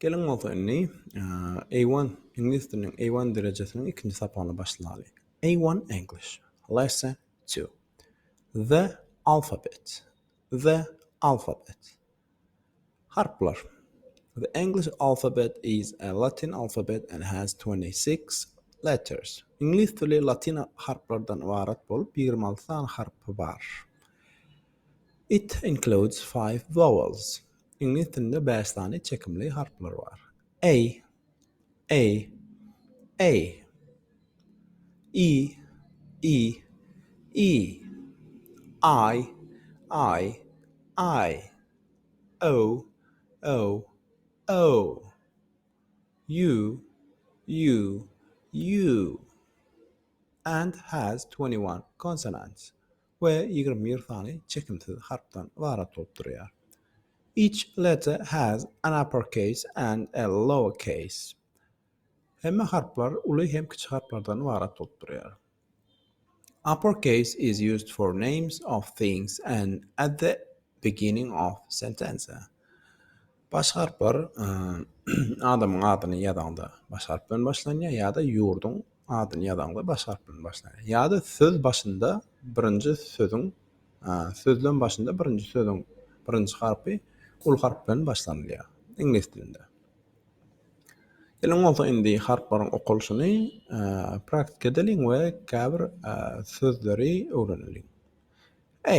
Geliň bolsa indi A1, iňlis diliniň A1 derejesiniň ikinji sapagyny başlaly. A1 English, Lesson 2. The alphabet. The alphabet. Harplar. The English alphabet is a Latin alphabet and has 26 letters. Iňlis dili latin harplardan ybarat bolup, 26 sany harpy bar. It includes five vowels. Iňlis dilinde bäş sany çekimli harplar bar. A, a, a. E, e, e. I, i, i. O, o, o. U, u, u. And has twenty one consonants. we ýigrimi bir sany çekimsiz harpdan ybarat bolup durýar. Each letter has an uppercase and a lowercase. Hemme harplar uly hem kiçi harplardan ybarat bolup durýar. Uppercase is used for names of things and at the beginning of sentences. Baş harplar adamyň adyny ýazaňda baş harp bilen başlanýar ýa-da ýurduň adyny ýazaňda baş harp bilen başlanýar. Ýa-da söz başynda birinji sözüň sözlem başynda birinji sözüň birinji harpy uly harp bilen başlanylýar iňlis dilinde. Geliň bolsa indi harplaryň okalyşyny praktika edeliň we käbir sözleri öwreneliň. A.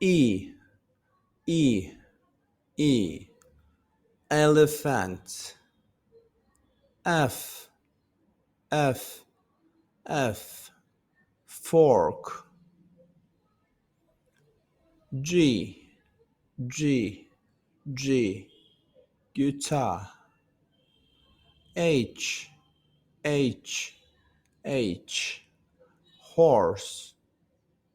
i i i elephant f f f fork g g g guitar h h h horse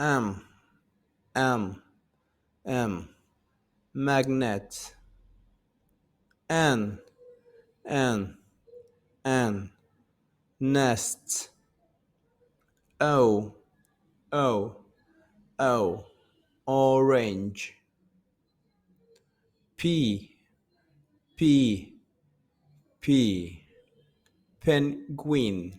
Am am am magnet An an an nest Ow ow ow orange Pi pi pi penguin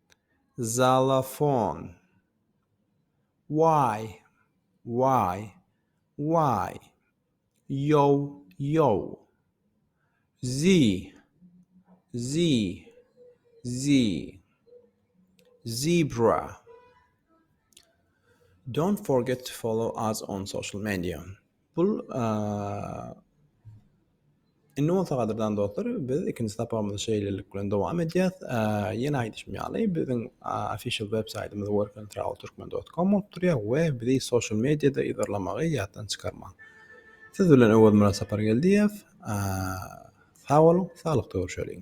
Xalafon. Waý, waý, waý. Ýow, ýow. Zi, zi, zi. Zebra. Don't forget to follow us on social media. Bul Indi bolsa gadyrdan dostlar, biz ikinji sapagymyzy şeýlelik bilen dowam edýäs. Ýene aýdyşym ýaly, biziň official web saýtymyz workandtravelturkmen.com bolup durýar we bizi social mediada yzarlamagy ýatdan çykarmaň. Siz bilen Öwezmyrat Sapargeldiýew. Sag boluň, saglykda görüşeliň.